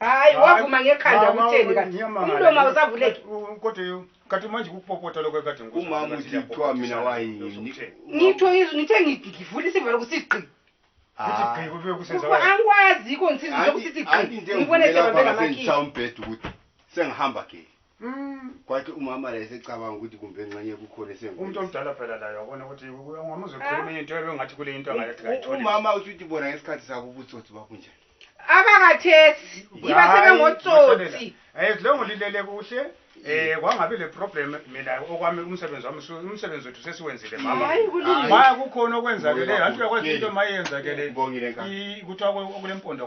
hayi wavuma ngekhanda kutheni kati umlomo awusavuleki kati manje kukupopota lokho ekade umama uthi kuthiwa mina wayini ngitho izwi ngithe ngivula isivalo kusigqi angikwazi ikho ngisizi zokusithi gqi ngibone sebabelamakhisa umbheda ukuthi sengihamba geli Mm. kwathi umama la esecabanga ukuthi kumbe nxenye kukhona esengu umuntu omdala phela layo wabona ukuthi ungamuzi ukhuluma into ebengathi kule into angathi kayitholi umama uthi uthi bona ngesikhathi sabo ubutsotsi babunjani abakathesi yiba sebengotsotsi hayi lo ngolilele kuhle Eh kwangabe le problem mina okwami umsebenzi wami su- umsebenzi wethu sesiwenzile mama hayi kulungile ma kukhona okwenzakeleyo anti uyakwazi into mayenzakele Ngibongile, Nkabi. kuthiwa kulempondo